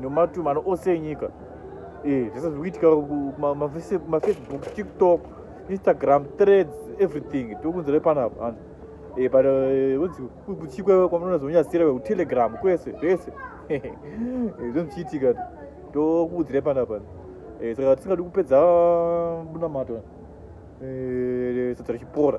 nomatumano ose enyika eh, zvese zviri kuitika mafacebook tiktok instagram threads everything tiri kunzira panapa and eh, but eh, wonzi kuchikwe kwamanoona zvonyasira kutelegram kwese zvese zvinochiitika tokuudzira panapa saka tisingadi kupedza bunamato sadza richipora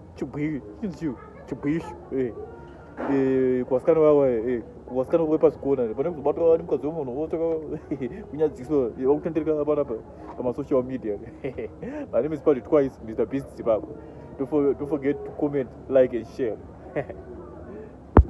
chibwiri chinzi chii chibwishu eh. Eh, kuvasikana vava eh, kuvasikana vepazvikona pane kuzobatwa vani mukadzi wemunhu votsvaka kunyadziso vakutendereka panapa pamasocial media my name is patrick twice mr beast zimbabwe don't forget to comment like and share